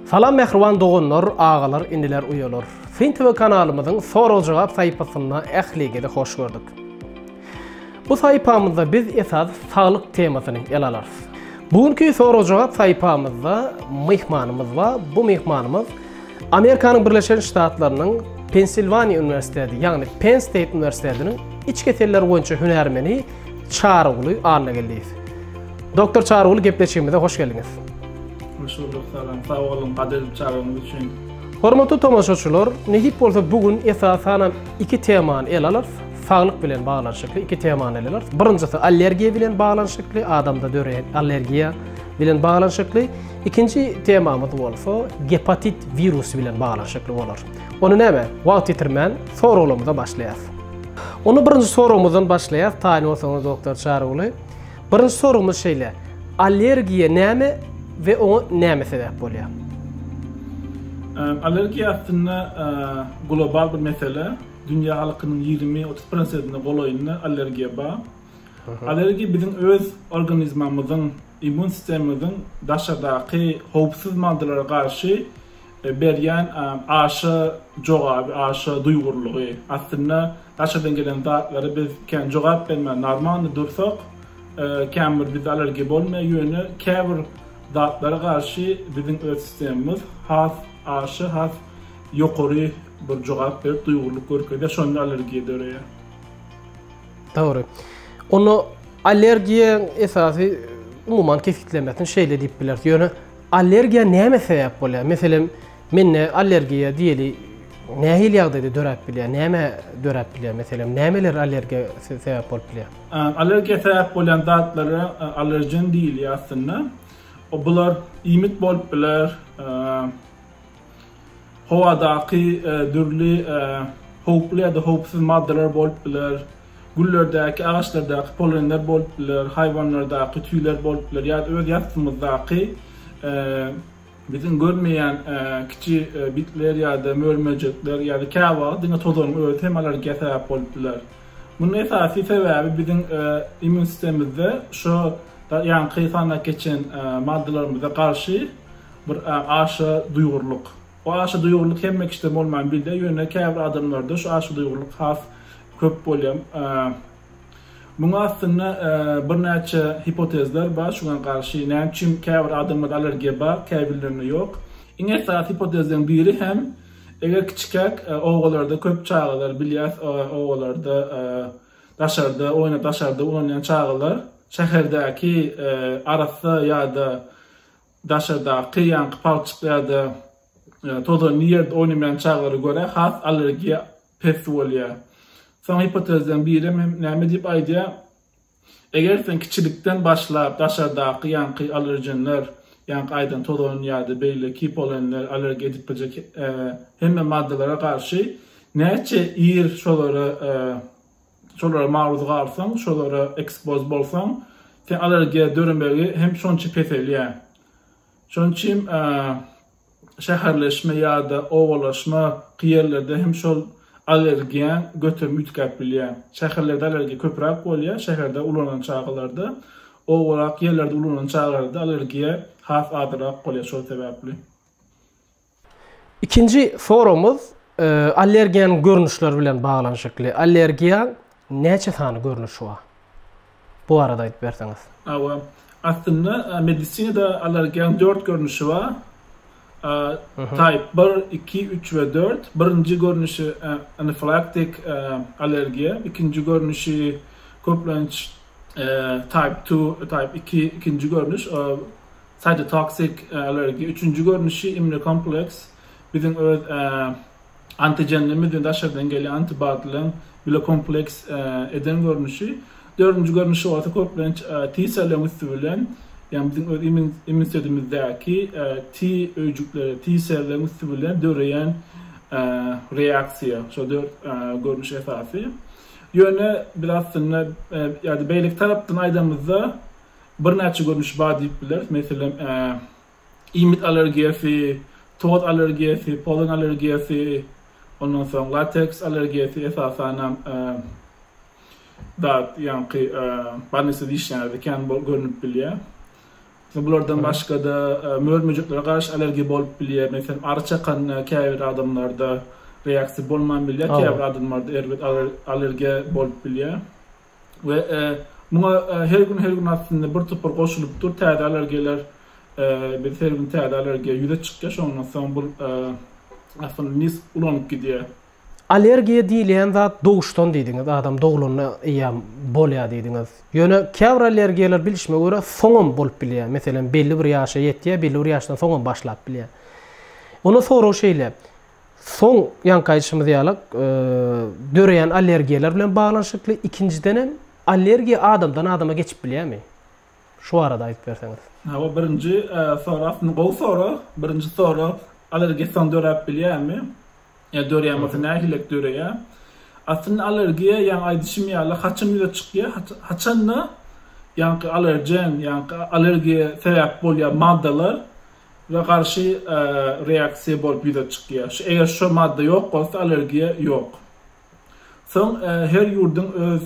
Salam mähriban doganlar, agalar, iniler, uýalar. Syn TV kanalymyzyň sorag-jogap saýpasyna ähligizi hoş gördük. Bu saýpamyzda biz esasy saglyk temasyny ele alarys. Bu günki sorag-jogap saýpamyzda myhmanymyz bar. Bu myhmanymyz Amerikanyň Birleşen Ştatlarynyň Pensilwaniýa uniwersiteti, ýagny Penn State uniwersitetiniň iç keseller boýunça hünärmeni Çaryguly Annageldiýew. Doktor Çaryguly gepleşigimize hoş geldiňiz. Hoş bulduk, salam. Sag boluň, gadyryp çagyryňyz üçin. Hormatly tomaşaçylar, nesip bolsa bu gün esasanam iki temany ele alarys. Saglyk bilen baglanyşykly iki temany ele alarys. Birinjisi allergiýa bilen baglanyşykly, adamda döreýän allergiýa bilen baglanyşykly. Ikinji temamyz bolsa gepatit wirusy bilen baglanyşykly bolar. Ony näme? Wagt ýitirmän, soraglarymyza başlaýas. Ony birinji soragymyzdan başlaýas, taýyn bolsaňyz doktor Çaryguly. Birinji soragymyz şeýle, allergiýa näme we oňa näme sebäp bolýar? Allergiýa aslynda global bir mesele. Dünýä halkynyň ýigrimi, otuz prosentine golaýynda allergiýa bar. Allergiýa biziň öz organizmamyzyň Immun sistemamyzyň daşardaky howpsuz maddalara garşy berýän aşa jogaby, aşa duýgurlygy. Aslynda daşardan gelen zatlara biz kän jogap bermän normalny dursak, kän bir bizde allergiýa bolmaýar, ýöne käbir zatlara garşy biziň öz sistemamyz has aşa, has ýokary bir jogap berip, duýgurlyk görkezýär, şonda allergiýa döreýär. Dogry. Onda allergiýaň esasy umuman kesgitlemesini şeýle diýip bileris. Ýöne allergiýa näme sebäp bolýar? Meselem, mende allergiýa diýeli nähili ýagdaýda döräp bilýär? Näme döräp bilýär? Meselem, nämeler allergiýa sebäp bolup bilýär? Allergiýa sebäp bolýan zatlara allergen diýilýär aslynda. Bular iýmit bolup biler, howadaky dürli howply ýa-da howpsuz maddalar bolup biler, güllerdäki, agaçlardaky polenler bolup biler, haýwanlardaky tüýler bolup biler ýa-da öz ýassymyzdaky biziň görmeýän kiçi bitler ýa-da mör-möjekler ýa-da käwagt diňe tozanyň özi hem allergiýa sebäp bolup biler. Munuň esasy sebäbi biziň immun sistemimizde şo ýaňky sanda geçen maddalarymyza garşy bir a aşa duýgurlyk. Bu aşa duýgurlyk hemme kişide bolman bilde, ýöne käbir adamlarda şu aşa duýgurlyk has köp bolýar. Muňa aslynda birnäçe hipotezler bar şuňa garşy, näme üçin käbir adamlarda allergiýa bar, käbirlerinde ýok. Iň esasy hipotezleriň biri hem eger kiçikäk obalarda köp çagalar bilýäs, obalarda daşarda oýnap daşarda ulanýan çagalar şäherdäki arassa ýa-da Daşardaky ýaňky palçyk ýa-da tozanly ýerde oýnamaýan çagalara görä has allergiýa pes bolýar. Soň gipotezleriň biri näme diýip aýdýar, Eger sen kiçilikden başlap daşardaky ýaňky allergenler, ýaňky aýdan tozan ýa-da beýleki polenler allergiýa edip biljek hemme maddalara garşy näçe ir şolara şolara maruz galsaň, şolara ekspoz bolsaň, sen allergiýa döremegi hem şonça peselýär. Şonuň üçin şäherleşme ýa-da obalaşma ki ýerlerde hem şol allergiýaň göterimi üýtgäp bilýär. Şäherlerde allergiýa köpräk bolýar, şäherde ulanan çagalarda, obarak ýerlerde ulanan çagalarda allergiýa has azyrak bolýar şol sebäpli. Ikinji soragymyz allergiýanyň görnüşleri bilen baglanyşykly. Allergiýaň näçe sany görnüşi bar? Bu barada aýdyp berseňiz. Hawa. Aslynda medisinada allergiýanyň dört görnüşi bar. Type bir, iki, üç we dört. Birinji görnüşi anafilaktik allergiýa. Ikinji görnüşi köplenç type two, type iki, ikinji görnüş. Cytotoxic allergy, üçünji görnüşi immunokompleks, biziň öz antigenlerimiz we daşardan gelýän antibodylaryň bile kompleks eden görnüşi. Dördünji görnüşi bolsa köplenç T-selleriň üsti bilen, ýagny biziň öz immunitetimizdaky T öýjükleri, T-selleriň üsti bilen döreýän reaksiýa. Şol dört görnüş esasy. Ýöne biz aslynda ýa-da beýleki tarapdan aýdamyzda, birnäçe görnüşi bar diýip bileris. Meselem, iýmit allergiýasy, toz allergiýasy, polen allergiýasy, ondan soň lateks allergiýasy, esasanam dat, ýaňky bolnisada işleýänlerde kän bolup görnüp bilýär. Bulardan başga-da mör-möjeklere garşy allergiýa bolup bilýär. Meselem, ary çakanda käbir adamlarda reaksiýa bolman bilýär, käbir adamlarda erbet allergiýa bolup bilýär. we muňa her gün her gün aslynda bir topar goşulyp dur täze allergiýalar biz her gün täze allergiýa ýüze çykýar şondan soň bu aslynda nis ulanyp gidýär. Allergiýa diýilýän zat doguşdan diýdiňiz adam doglanda eýýam bolýar diýdiňiz ýöne käbir allergiýalar bilişime görä soňam bolup bilýär meselem belli bir ýaşa ýetýär belli bir ýaşdan soňam başlap bilýär onda sorag şeýle Soň ýaňky aýdyşymyz ýaly döreýän allergiýalar bilen baglanyşykly, ikinjiden hem allergiýa adamdan adama geçip bilýärmi? Şu barada aýdyp berseňiz. Hawa, birinji sorag aslynda gowy sorag. Birinji sorag allergiýa soň döräp bilýärmi? Ýa döreýän bolsa nähilek döreýär? Aslynda allergiýa ýaňy aýdyşym ýaly haçan ýüze çykýar? Haçanda ýaňky allergen, ýaňky allergiýa sebäp bolýan maddalar we garşy reaksiýa bolup ýüze çykýar. Eger şo madda ýok bolsa allergiýa ýok. Soň her ýurduň öz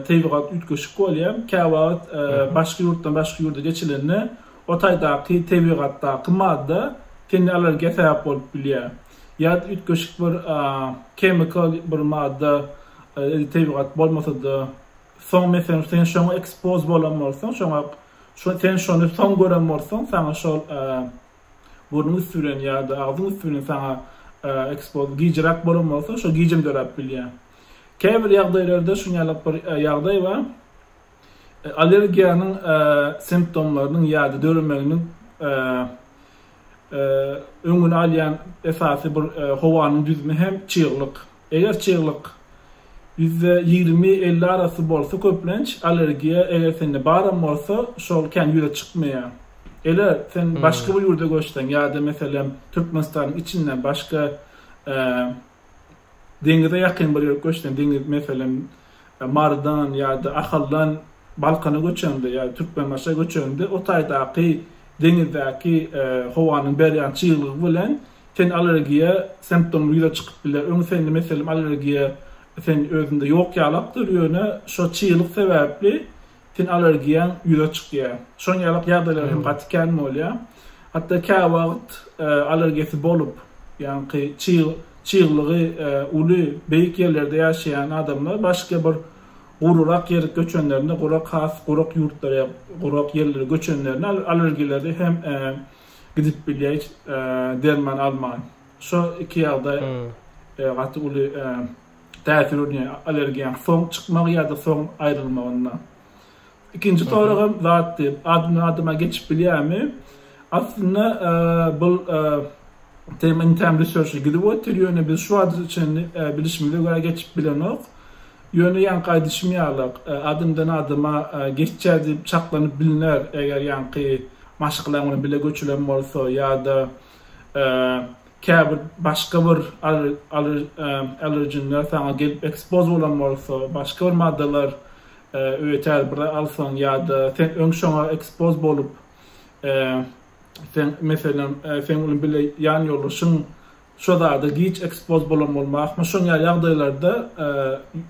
tebigat üýtgeşik bolýar. Käwagt başga ýurtdan başga ýurda geçilende o taýdaky tebigatdaky madda tende allergiýa sebäp bolup bilýär. Ýa-da üýtgeşik bir chemical bir madda tebigat bolmasa-da Soň meselem sen şoňa ekspoz bolan bolsaň, şoňa şo sen şony soň gören bolsaň, saňa şol burnuň üsti bilen ýa-da agzyň üsti bilen saňa ekspoz gijräk bolan bolsa, şo gijim döräp bilýär. Käbir ýagdaýlarda şuň ýaly bir ýagdaý bar. Allergiýanyň simptomlarynyň ýa-da döremeginiň öňüni alýan esasy bir howanyň düzümi hem çyglyk. Eger çyglyk ýüzde ýigrimi-elli arasy bolsa köplenç allergiýa eger sende baram bolsa şol kän ýüze çykmaýar. Ele sen başga bir ýurda göçseň ýa-da meselem Türkmenistanyň içinden başga Deňize ýakyn bir ýere göçsem, deňiz, meselem, Marydan ýa-da Ahaldan Balkana göçemde ýa-da Türkmenbaşa göçemde, o taýdaky deňizdäki howanyň berýän çyglygy bilen sen allergiýa simptomly ýüze çykyp biler. Öň sende, meselem, allergiýa sen özünde ýok ýalakdyr, ýöne şo çyglyk sebäpli Ten allergiýaň ýüze çykýar. Şoň ýaly ýagdaýlar hem gaty kän bolýar. Hatda käwagt allergiýasy bolup, ýagny çyg, çyglygy uly, beýik ýerlerde ýaşaýan adamlar başga bir gururak ýere göçenlerinde, gurak has gurak ýurtlara ýa gurak ýerlere göçenlerinde allergiýleri hem gidip bilýär hiç derman alman. Şo iki ýagdaý gaty uly täsir edýän allergen soň çykmagy ýa-da soň aýrylmagynda. Ikinji soragam zatdy, adyndan adama geçip bilýärmi? Aslynda bul tema intem research gidip otyr, ýöne biz şu wagta çenli bilişimize görä geçip bilenok. Ýöne ýaňky aýdyşym ýaly, adyndan adama geçýär diýip çaklanyp bilner, eger ýaňky maşgala bilen bile göçülen bolsa ýa-da käbir başga bir allergenler saňa gelip ekspoz bolan bolsa, başga bir maddalar öýeter bir alsaň ýa-da sen öň şoňa ekspoz bolup, sen meselem seň bilen bile ýan ýoldaşyň şo zada giç ekspoz bolan bolmazmy, şoň ýaly ýagdaýlarda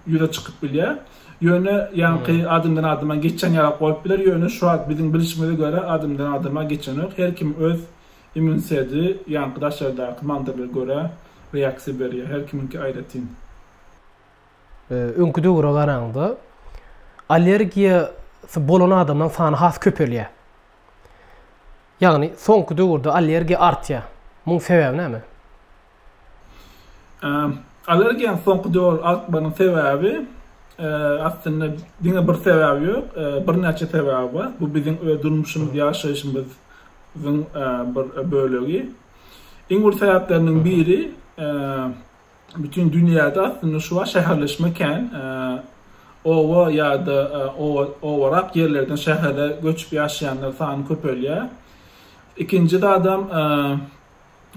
ýüze çykyp bilýär. Ýöne ýaňky adamdan adama geçen ýaly bolup biler, ýöne şu wagt biziň bilişimize görä adamdan adama geçenok, her kim öz Immün sedi, ýaňky daşardaky manzarlara görä reaksiýa berýär. Her kimiňki aýratyn. Öňki döwüre garanda allergiýasy bolan adamlaryň sany has köpelýär. Ýagny soňky döwürde allergiýa artýar. Muň sebäbi näme? Allergiýanyň soňky döwür artmagynyň sebäbi, aslynda, diňe bir sebäbi ýok, birnäçe sebäbi bar. Bu biziň öz durmuşymyz, ýaşaýşymyzyň bir bölegi. Iň uly sebäpleriniň biri, bütin dünýäde aslynda şu wagt şäherleşme kän. Oba ýa-da obarak ýerlerden şähere göçüp ýaşaýanlar sany köpelýär. Ikinji zadam,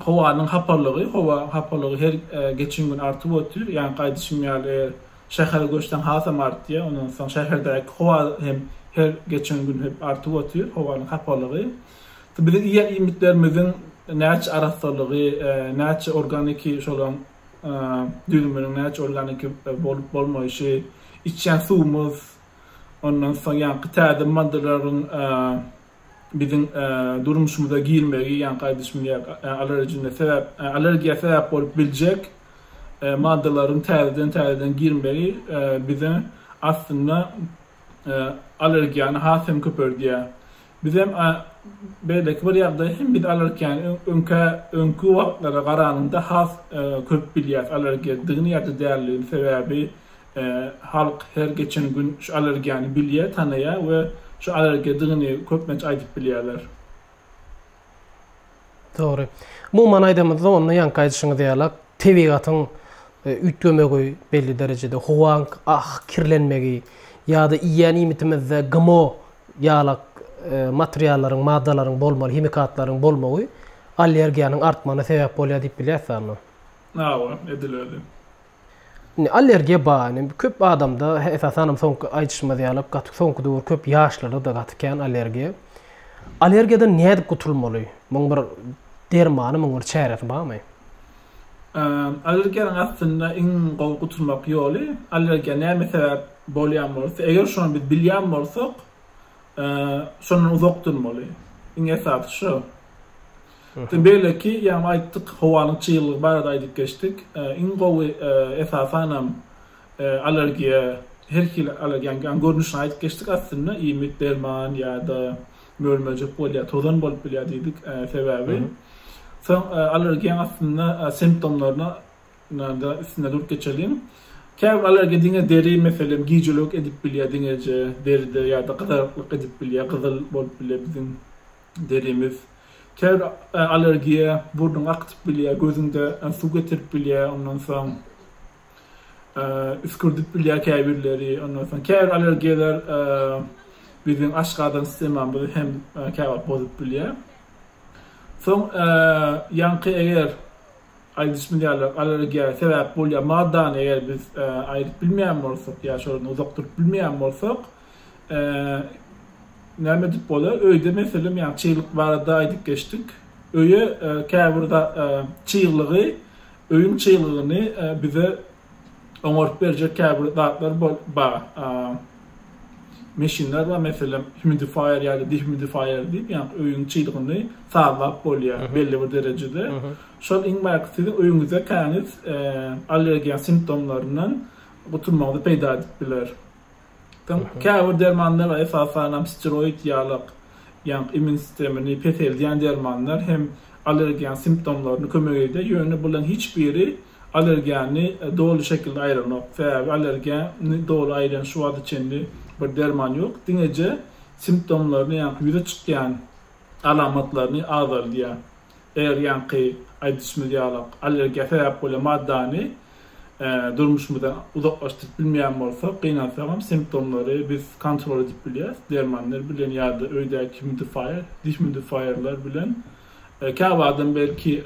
Howanyň hapalygy, howa hapalygy her geçen gün artyp otyr. Ýaňky aýdyşym ýaly, şähere göçseň hasam artýar. Ondan soň şäherdäki howa hem her geçen gün hep artyp otyr, howanyň hapalygy. Biziň iýen iýmitlerimiziň näçe arassalygy, näçe organiki şolaň düzüminiň näçe organiki bolup bolmaýşy, içýän suwumyz, ondan soň ýaňky täze maddalaryň biziň durmuşymyza girmegi, ýaňky aýdyşym ýaly, allergine sebäp, allergiýa sebäp bolup biljek maddalaryň täzeden-täzeden girmegi bize aslynda allergiýany has hem köpeldýär. Biz hem beýleki bir ýagdaý hem biz allergiýany öňkä, öňki wagtlara garanyňda has köp bilýäris allergiýadygyny ýa-da däldigini. Sebäbi Halk her geçen gün şu allergiýany bilýär, tanaýar we şu allergiýadygyny köplenç aýdyp bilýärler. Dogry. Umuman aýdamyzda onda ýaňky aýdyşyňyz ýaly tebigatyň üýtgemegi belli derejede, howaň kirlenmegi ýa-da iýýän iýmitimizde GMO ýaly materiallaryň, maddalaryň bolmagy, himikatlaryň bolmagy allergiýanyň artmagyna sebäp bolýar diýip bilýärisdä onda. Hawa, edil özi. Indi allergiýa bar. Indi köp adamda, esasanam soňky aýdyşymyz ýaly, gaty soňky döwür köp ýaşlarda-da gaty kän allergiýa. Allergiýadan nädip gutulmaly? Muň bir dermany, muň bir çäresi barmy? Allergiýanyň aslynda iň gowy gutulmak ýoly, allergiýa näme sebäp bolýan bolsa, eger şony biz bilýän bolsak, şondan uzak durmaly. Iň esasy şo. Beýleki, ýagny aýtdyk, howanyň çyglygy barada aýdyp geçdik. Iň gowy, esasanam, allergiýa, her hili allergiýanyň görnüşini aýdyp geçdik aslynda, iýmit, derman ýa-da möl-möjek bolýar, tozan bolup bilýär diýdik. Sebäbi, soň allergiýanyň aslynda simptomlaryna da üstünde durup geçeliň. Käbir allergiýa diňe deri, meselem, gijelik edip bilýär, diňeje deride ýa-da gyzaryklyk edip bilýär, gyzyl bolup bilýär biziň Derimiz ter allergiýa, burnuňy akdyp bilýär, gözüňde suw getirip bilýär, ondan soň üskürdip bilýär käbirleri, ondan soň käbir allergiýalar biziň aşgazan sistemamyzy hem käwagt bozup bilýär. Soň ýaňky eger aýdyşymyz ýaly allergiýa sebäp bolýan maddany eger biz aýryp bilmeýän bolsak ýa şondan uzak durup bilmeýän bolsak, näme edip bolar? Öýde meselem, ýa çyglyk barada aýdyp geçdik. Öýe käbir da çyglygy, öýüň çyglygyny bize oňaryp berjek käbir zatlar bar. Meşinler bar, meselem, humidifier ýa-da dehumidifier diýip, ýa-da öýüň çyglygyny sazlap bolýar belli bir derejede. Şol iň baky siziň öýüňizde käniz allergiýa simptomlaryndan gutulmagyňyzy peýda edip biler. Soň käbir dermanlar, esasanam steroid ýalak, ýaňky immun sistemini peseldýän dermanlar hem allergiýanyň simptomlaryny kömek edýär. Ýöne bularyň hiç biri allergiýany doly şekilde aýranok. Sebäbi allergiýany doly aýran şu wagta çenli bir derman ýok. Diňeje simptomlaryny, ýaňky ýüze çykýan alamatlaryny azaldýar. Eger ýaňky aýdyşymyz ýalak allergiýa sebäp bolýan maddany durmuşymyzdan uzaklaşdyryp bilmeýän bolsak, gynansagam simptomlary biz kontrol edip bilýäris, dermanlar bilen ýa-da öýdäki humidifaýer, dihumidifayerler bilen. Käbir adam belki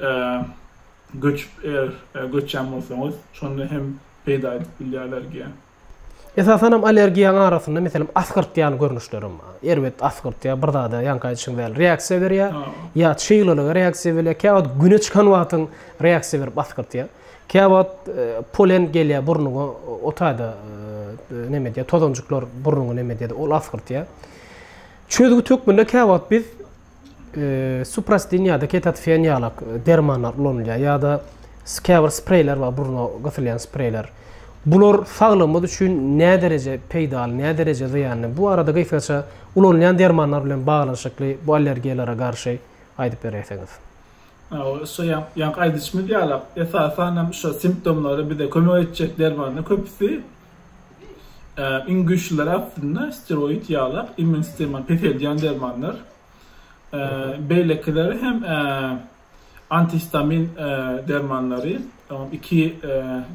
göçüp eger göçýän bolsaňyz, şonda hem peýda edip bilýär allergiýa. Esasanam allergiýanyň arasynda, meselem, asgyrtýan görnüşlerem bar. Erbet asgyrtýar, bir zada ýaňky aýdyşyň däli reaksiýa berýär. Ýa çyglylyga reaksiýa berýär. Käwagt güne çykan wagtyň reaksiýa berip asgyrtýar. Käwagt e, polen gelýär burnuňa, o taýda e, neme diýýär, tozanjyklar burnuňy neme diýýär, ol asgyrtýar. Çözgüt hökmünde käwagt biz Suprasten ýa-da ketatfen ýalak dermanlar ulanylýar ýa-da käbir spreýler bar, burna gysylýan spreýler. Bular saglygymyz üçin nädereje peýdaly, nädereje zyýanly? Bu barada gysgaça ulanylýan dermanlar bilen baglanyşykly bu allergiýalara garşy aýdyp beräýseňiz. Şu ýaňky aýdyşymyz ýalak, esasan hem şu simptomlary bize kömek etjek dermanlar köpüsi Iň güýçlüleri aslynda steroid ýalak, immun sistemany peseldýän dermanlar. Beýlekileri hem antihistamin dermanlary, iki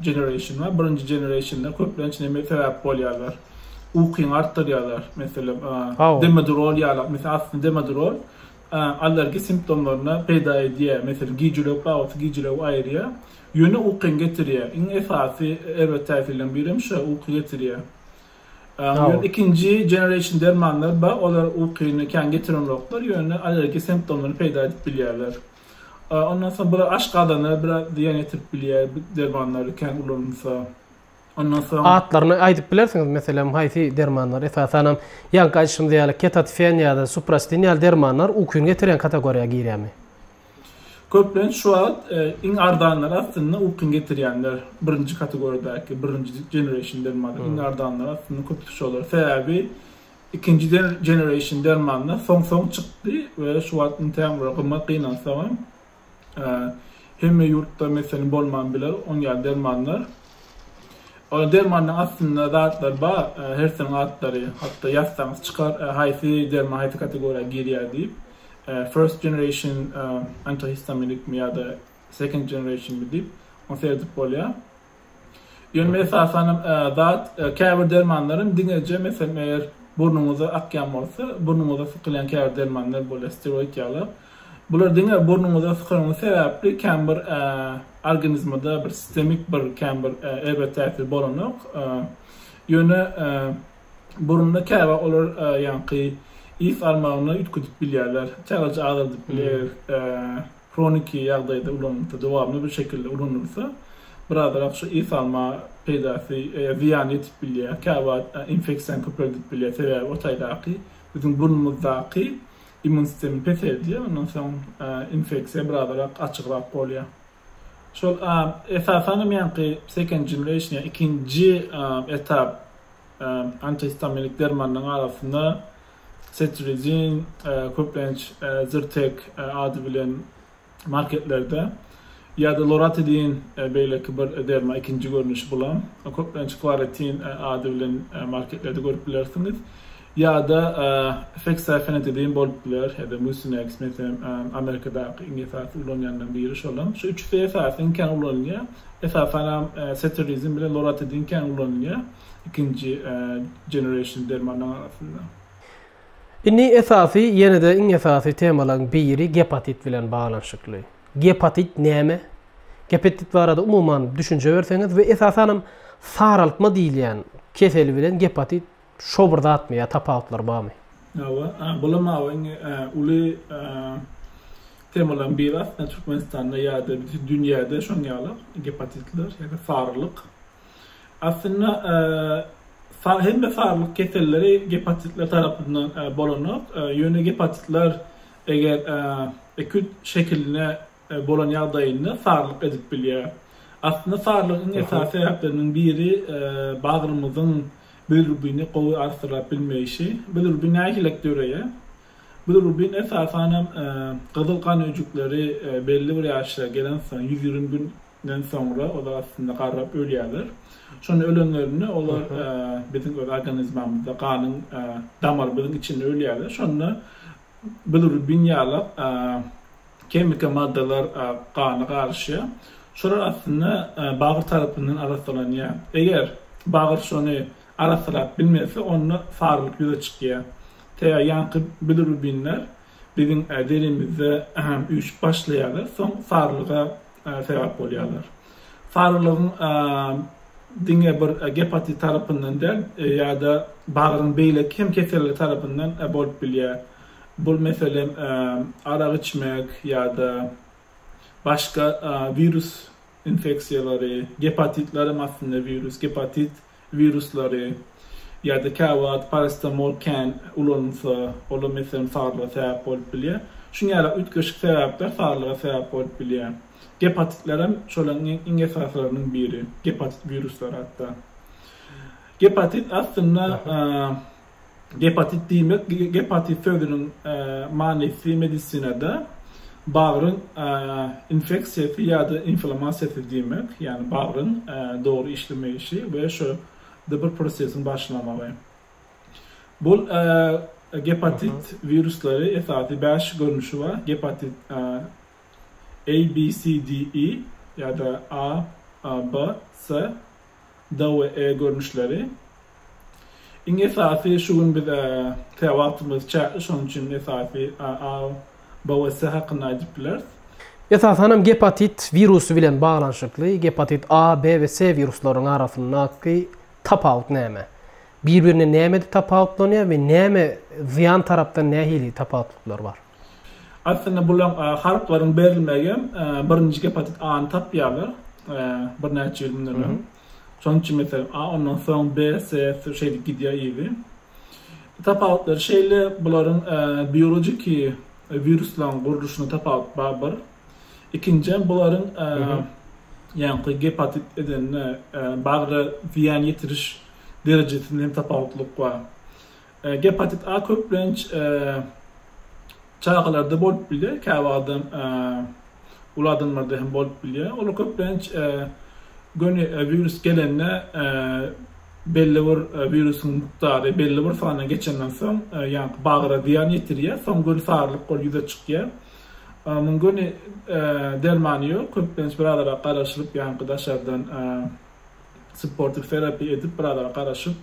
generation bar. Birinji generation-da köplenç näme sebäp bolýarlar? Ukyňy artdyrýarlar. Meselem, demodurol ýalak. Meselem, aslynda demodurol allergiýa simptomlaryny peýda edýär. Meselem, gijilewük babatda gijilewigi aýyrýar. Ýöne uky hem getirýär. Iň esasy erbet täsirleriň biri hem şo, uky getirýär. Ýöne ikinji generation dermanlar bar, olar ukyny kän getirenoklar, ýöne allergiki simptomlary peýda edip bilýärler. Ondan soň bir aşgazana biraz zyýan ýetirip bilýär bu dermanlar kän ulanylsa. Ondan soň Atlaryny aýdyp bilersiňiz, meselem, haýsy dermanlar esasanam, ýaňky aýdyşymyz ýaly, ketatifen ýa-da suprastin ýaly dermanlar ukyny getirýän kategoriýa girýärmi? Köplenç şu wagt iň arzanlary aslynda ukyňy getirýänler, birinji kategoriýadaky, birinji generation dermanlar iň arzanlary aslynda köplenç şolar. Sebäbi ikinji generation dermanlar soň-soň çykdy we şu wagt iňtäm bir gymmat gynansagam, hemme ýurtda meselem bolman biler oň ýaly dermanlar. Ol dermanlaryň aslynda zatlary bar, hersiniň atlary, hatda ýazsaňyz çykar, haýsy derman haýsy kategoriýa girýär diýip. first generation antihistaminikmi ýa-da second generationmi diýip, ony serdip bolýar. Ýöne esasan hem zat käbir dermanlar hem diňeje meselem eger burnuňyza akýan bolsa, burnuňyza sykylýan käbir dermanlar bolýar, steroid ýalar. Bular diňe burnuňyza sykanyňyz sebäpli kän bir organizmada bir sistemik bir kän bir erbet täsir bolanok. Ýöne Burunda käbä olar ýaňky ys almagyny üýtgedip bilýärler, çalaja azaldyp bilýär, eger hroniki ýagdaýda ulanylsa, dowamly bir şekilde ulanylsa, birazrak şu ys alma peýdasy, zyýany ýetip bilýär, käwagt infeksiýany köpeldip bilýär, sebäbi o taýdaky biziň burnumyzdaky immun sistemi peseldýär, ondan soň infeksiýa birazrak açygrak bolýar. Şol esasanam ýaňky sekenjimleýşine ikinji etap antihistaminlik dermanlaryň arasynda setrizin köplenç Zyrtek ady bilen marketlerde ýa-da loratidin beýleki bir derman ikinji görnüşi bulam köplenç klaretin ady bilen marketlerde görüp bilersiňiz. Ýa-da fexaifenetidin bolup biler, ýa-da mucinex, meselem, Amerikadaky iň esasy ulanýanlaryň biri şolam. Şu üçüsi esasy iň kän ulanylýar. Esasanam seterizin bilen loratidin kän ulanylýar ikinji generation dermanlaryň arasynda. Indi esasy, ýene-de iň esasy temalaryň biri gepatit bilen baglanyşykly. Gepatit näme? Gepatit barada umuman düşünje berseňiz we esasanam saraltma diýilýän kesel bilen gepatit Şo bir zatmy ýa tapawutlar barmy. Hawa bulam hawa iň uly temalaryň biri aslynda Türkmenistanda ýa-da bütin dünýäde şoň ýaly gepatitler ýa-da sarylyk. Aslynda hemme sarylyk keselleri gepatitler tarapyndan bolanok. Ýöne gepatitler eger ekut şekiline bolan ýagdaýynda sarylyk edip bilýär. Aslynda sarylygyň iň esasy sebäpleriniň biri bagrymyzyň bilirubini gowy arsylap bilmeýşi. Bilirubin nähilek döreýär? Bilirubin esasan hem gyzyl gan öýjükleri belli bir ýaşa gelensoň, ýüz ýigrimi günden soňra olar aslynda garrap ölýärler. Şonda ölenlerinde olar biziň öz organizmamyzda ganyň damarymyzyň içinde ölýärler. Şonda bilirubin ýalak kemiki maddalar gana garyşýar. Şolar aslynda bagyr tarapyndan arassalanýar. Eger bagyr şony arassalap bilmese, onda sarylyk ýüze çykýar. Tä ýaňky bilirubinler biziň derimizde üýşüp başlaýarlar, soň sarylyga sebäp bolýarlar. Sarylygyň diňe bir gepatit tarapyndan däl, ýa-da bagryň beýleki hem keselleri tarapyndan bolup bilýär. Bu, meselem, arak içmek ýa-da başga wirus infeksiýalary, gepatitler hem aslynda wirus, gepatit wiruslary ýa-da käwagt parasetamol kän ulanylsa, olam meselem sarylyga sebäp bolup bilýär. Şuň ýaly üýtgeşik sebäpler sarylyga sebäp bolup bilýär. Gepatitler hem şolaryň iň esasylarynyň biri, gepatit wiruslary hatda. Gepatit aslynda Gepatit diýmek, gepatit sözüniň manysy medisinada bagryň infeksiýasy ýa-da inflamasiýasy diýmek, ýagny bagryň dogry işlemeyişi we şo da bir prosesiň başlamagy. Bul gepatit wiruslary esasy bäş görnüşi bar, gepatit A, B, C, D, E ýa-da A, B, C, D we E görnüşleri. Iň esasy şu gün biz tä wagtymyz çäkli şonuň üçin esasy A, B we C hakynda aýdyp bileris. Esasanam gepatit wirusy bilen baglanyşykly gepatit A, B we C wiruslarynyň arasyndaky tapawut näme? Bir-birine nämede tapawutlanýar we näme zyýan tarapdan nähili tapawutlyklar bar? Aslynda bulaň harytlaryň berilmegi hem birinji gepatit A-ny tapýarlar birnäçe ýyl mundan öň. Şonuň üçin meselem A ondan soň B, C şeýdip gidýär yzy. Tapawutlary şeýle bularyň biologiki wiruslaryň gurluşynda tapawut bar bir. Ikinjiden bularyň ýaňky gepatit edende bagra zyýan ýetiriş derejesinde hem tapawutlyk bar. Gepatit A köplenç çagalarda bolup bilýär, käwagt uly adamlarda hem bolup bilýär. Ol köplenç göni wirus gelende belli bir wirusyň mukdary belli bir sany geçenden soň, ýaňky bagra zyýan ýetirýär, soň göni sarylyk bolup ýüze çykýar. Muň göni dermany ýok, köplenç birazara garaşylyp, ýaňky daşardan Sportif terapiýa edip bir azara garaşyp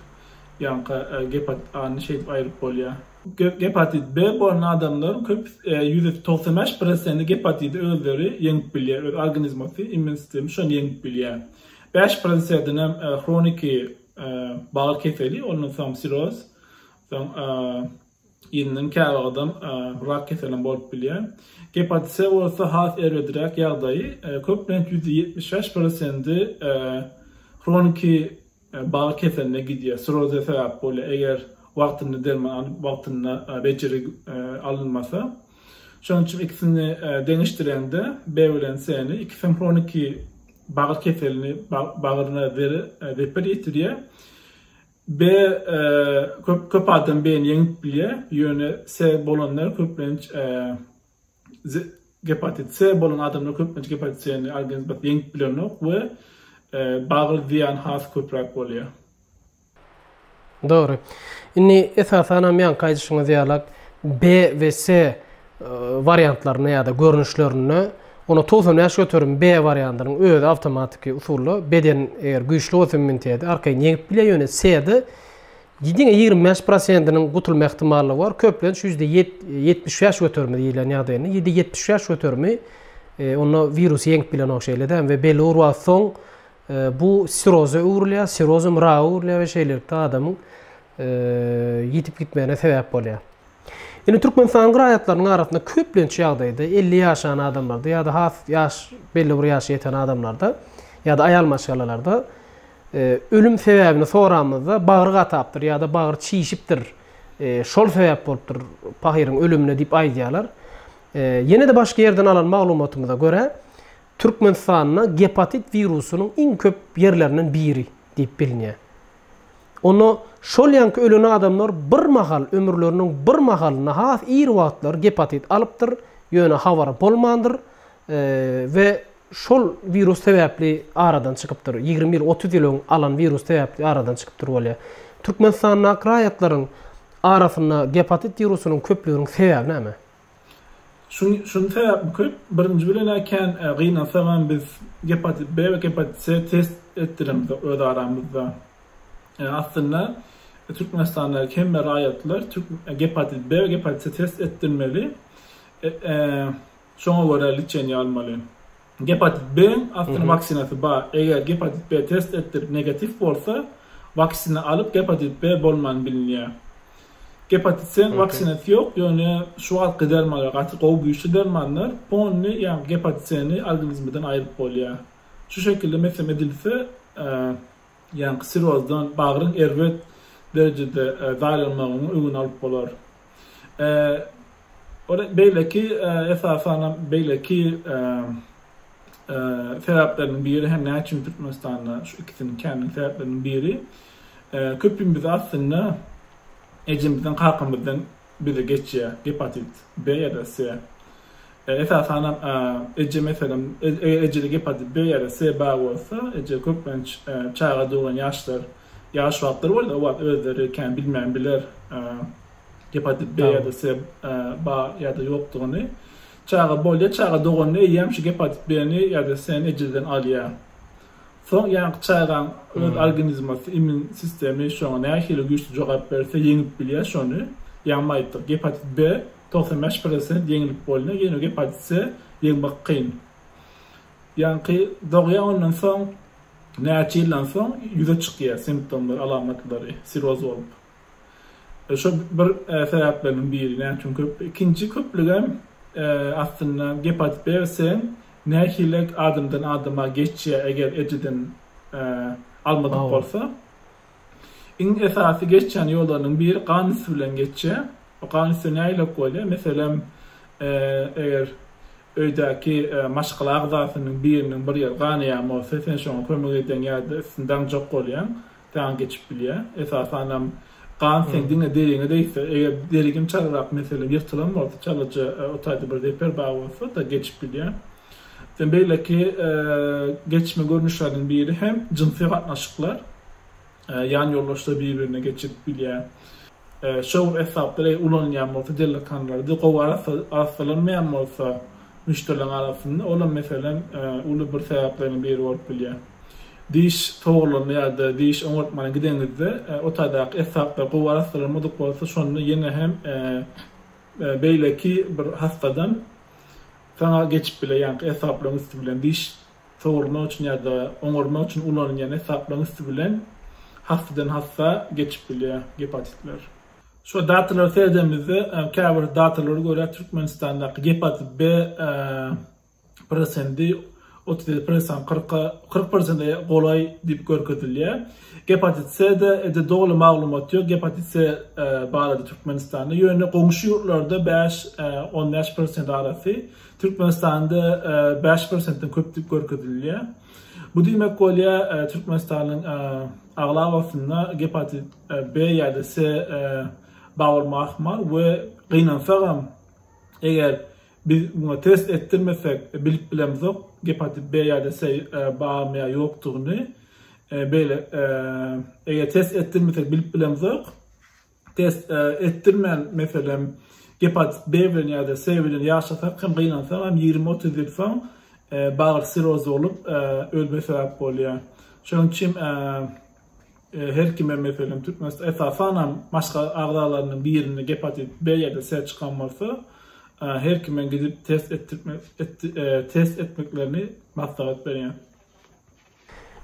ýaňky gepatit A ni şeýdip aýryp bolýar. Gepatit B bolan adamlaryň köp ýüz togsan bäş prosenti gepatidi özleri ýeňip bilýär öz organizmosy immun sistemi şony ýeňip bilýär bäş prosedenem hroniki bagyr keseli ondan soň siroz soň Ýylynyň käwagydam rak keselim bolup bilýär. Gepatit C bolsa has erbedräk ýagdaýy, köplenç ýüzde ýetmiş bäş prosendi hroniki bagy keseline gidýär, siroze sebäp bolýar, eger wagtynda derman alyp, wagtynda bejergi alynmasa. Şonuň üçin ikisini deňeşdirende B bilen C-ni, ikisem hroniki bagyr keselini, bagyryna zeper ýetirýär. B. Köp adam B-ni ýeňip bilýär, ýöne C bolanlar köplenç gepatit C bolan adamlar köplenç gepatit C-ni organizm ýeňip bilenok we bagly zyýan has köpräk bolýar. Dogry. Indi esasanam ýaňky aýdyşyňyz ýalak B we C wariantlarynda ýa-da görnüşlerinde Onda togsan bäş göterim B wariandynyň özi awtomatiki usulda beden eger güýçli bolsa immuniteti arkaýyn ýeňip bilýär, ýöne C-de diňe ýigrimi bäş prosentiniň gutulma ähtimallygy bar. Köplenç ýüzde ýetmiş bäş göterimi diýlen ýagdaýynda, ýüzde ýetmiş bäş göterimi onda wirusy ýeňip bilenok şeýle-de hem we belli bir wagt soň bu siroza öwrülýär, sirozam raka öwrülýär we şeýlelikde adamyň ýitip gitmegine sebäp bolýar. Indi Türkmenistanyň raýatlarynyň arasynda köplenç ýagdaýda elli ýaşan adamlarda ýa-da has ýaş belli bir ýaşa ýeten adamlarda ýa-da aýal maşgalalarda ölüm sebäbini soramyzda bagry gatapdyr ýa-da bagry çişipdir, şol sebäp bolupdyr pahyryň ölümine diýip aýdýarlar. Ýene-de başga ýerden alan maglumatymyza görä, Türkmenistanda gepatit wirusynyň iň köp ýerlerinden biri diýip bilinýär. Onda şol ýanky ölen adamlar bir mahal, ömürleriniň bir mahalynda has ir wagtlary gepatit alypdyr, ýöne habary bolmandyr we şol wirus sebäpli aradan çykypdyr. Ýigrimi ýyl, otuz ýyl öň alan wirus sebäpli aradan çykypdyr bolýar. Türkmenistandaky raýatlaryň arasynda gepatit wirusynyň köplüginiň sebäbi näme? Şuny sebäp büküp, birinji bilen-ä kän gynansagam biz gepatit B we gepatit C test etdiremizde öz aramyzda. Aslynda Türkmenistandaky hemme raýatlar gepatit B we gepatit C test etdirmeli, şoňa görä liçeniýa almaly. Gepatit B-iň astyn waksinasy bar. Eger gepatit B test etdirip negatiw bolsa, waksina alyp gepatit B bolman bilinýär. Gepatit C-iň waksinasy ýok, ýöne şu wagtky dermanlar gaty gowy güýçli dermanlar, pony ýa gepatit C-ni organizmiden aýryp bolýar. Şu şekilde meslem edilse, ýaňky sirozdan bagryň erbet derejede zaýlanmagynyň öňüni alyp bolar. Ol beýleki, esasanam beýleki sebäpleriniň biri hem näme üçin Türkmenistanda şu ikisini känligiň sebäpleriniň biri köpimize aslynda ejemizden, kakamyzdan bize geçýär gepatit B ýa-da S. Esasanam eje meselem, eger ejede gepatit B ýa-da S bar bolsa, eje köplenç çaga doglan ýaşlar Ýaş wagtlary boldy, o wagt özleri kän bilmän biler gepatit B ýa-da C ba ýa-da ýokdugyny. Çaga bolýar, çaga doganda eýýäm şu gepatit B-ni ýa-da C-ni ejizden alýar. Soň ýaňky çagaň öz organizmasy, immun sistemi şoňa nähili güýçli jogap berse, ýeňip bilýär şony. Ýaňy aýtdyk, gepatit B togsan bäş prosent ýeňilip bolýar, ýöne gepatit C ýeňmek kyn. Ýaňky dogýar ondan soň näçe ýyldan soň ýüze çykýar simptomlary, alamatlary siroz bolup. Şo bir sebäpleriniň biri näme üçin köp. Ikinji köplügem aslynda gepatit B sen nähilek adamdan adama geçýär eger ejeden almadyk bolsa. Iň esasy geçýän ýollarynyň biri gan üsti bilen geçýär. Bu gan üsti nähilek bolýar? Meselem, eger öýdäki maşgala agzasynyň biriniň bir ýeri ganaýan bolsa, sen şoňa kömek edýäň ýa-da üstüni daňjak bolýaň, saňa geçip bilýär. Esasanam gan seň diňe deriňe degse, eger deri gim çalyrak, meselem, ýyrtylan bolsa, çalaja o taýda bir zeper bar bolsa-da geçip bilýär. Beýleki geçme görnüşleriniň biri hem jynsy gatnaşyklar. Ýan ýoldaşlar bir-birine geçip bilýär. Şowly esbaplar eger ulanylýan bolsa, dellekanlarda gowy arassalanmaýan bolsa müşderileriň arasynda, ol hem meselem uly bir sebäpleriň biri bolup bilýär. Diş sogurlanda ýa-da diş oňartmana gideňizde, otagdaky esbaplar gowy arassalanmadyk bolsa, şonda ýene hem beýleki bir hassadan, Saňa geçip bile ýaňky esaplaryň üsti bilen diş sogurmak üçin ýa-da oňarmak üçin ulanylýan esaplaryň üsti bilen hassadan hassa geçip bilýär gepatitler. Şu datalara seredemizde käbir datalara görä Türkmenistandaky gepatit B prosendi otuz ýedi prosent, kyrka, kyrk prosente golaý diýip görkezilýär. Gepatit C-de edil doly maglumat ýok, gepatit C barada Türkmenistanda, ýöne goňşy ýurtlarda bäş, on bäş prosent arasy, Türkmenistanda bäş prosentden köp diýip görkezilýär. Bu diýmek bolýar, Türkmenistanyň aglabasynda gepatit B ýa-da C bar bolma ahmal we gynansagam, eger Biz muňa test etdirmesek bilip bilemzok gepatit B ýa-da C barmy ýa ýokdugyny. Beýle eger test etdirmesek bilip bilemzok. Test etdirmän meselem gepatit B bilen ýa-da C bilen ýaşasak hem gynansak hem ýigrimi otuz ýyl soň bagyr sirozy bolup ölme sebäp bolýar. Şonuň üçin Her kime meselem Türkmenistan esasanam maşgala agzalarynyň birinde gepatit B ýa-da C çykan bolsa, her kime gidip test etdirtmek test etmeklerini maslahat berýän.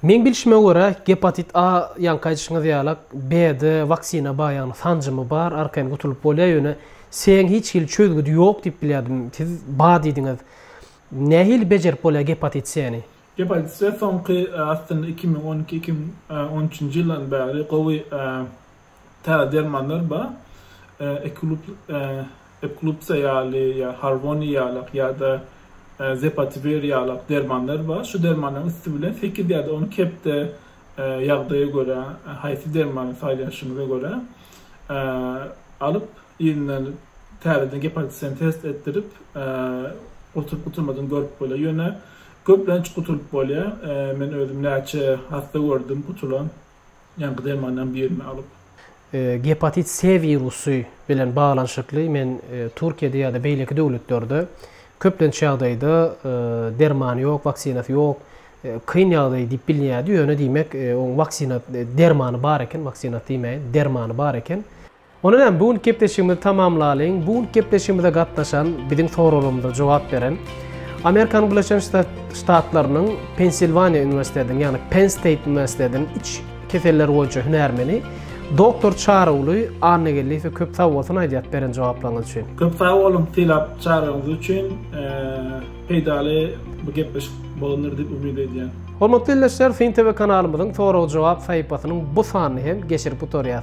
Meň bilşime görä gepatit A ýaňky aýdyşyňyz ýalak B-de waksina bar ýagny sanjymy bar arkaýyn gutulyp bolýar ýöne C-iň hiç hili çözgüdi ýok diýip bilýärdim siz bar diýdiňiz. Nähili bejerip bolýar gepatit C-ni? Gep aýdysy, soňky, aslynda iki müň on iki-iki müň on üçünji ýyldan bäri gowy täze dermanlar bar. Ekulup, Eklupsa ýaly, ýa Harvoni ýalak ýa-da Zepatiwer ýalak dermanlar bar. Şu dermanlaryň üsti bilen sekiz ýa-da on kepde ýagdaýa görä, haýsy dermany saýlanşyňyza görä, alyp, yzyndan täzeden gep aýdysyny test etdirip, gutulyp-gutulmadygyny görüp bolar. Ýöne Köplenç gutulyp bolýar. Men özüm näçe hassa gördüm gutulan, ýaňky dermandan birini alyp. Gepatit C wirusy bilen baglanyşykly men Türkiýede ýa-da beýleki döwletlerde köplenç ýagdaýda dermany ýok, waksinasy ýok, kyn ýagdaý diýip bilinýärdi, ýöne diýmek oň waksina dermany bar eken, waksinasy diýmäýin, dermany bar eken. Ondan hem bu günki gepleşigimizi tamamlalyň. Bu günki gepleşigimize gatnaşan, biziň soraglarymyza jogap beren Amerikanyň Birleşen Ştatlarynyň Pensilwaniýa uniwersitetiniň, ýagny Penn State uniwersitetiniň iç keselleri boýunça hünärmeni doktor Çaryguly Annageldiýewe köp sag bolsun aýdýas beren jogaplaryňyz üçin. Köp sag boluň sylap çagyryňyz üçin. Peýdaly bu gepleşik bolandyr diýip umyt edýän. Hormatly ildeşler, Fin TV kanalymyzyň sorag-jogap sahypasynyň bu sanyny hem geçirip gutarýas.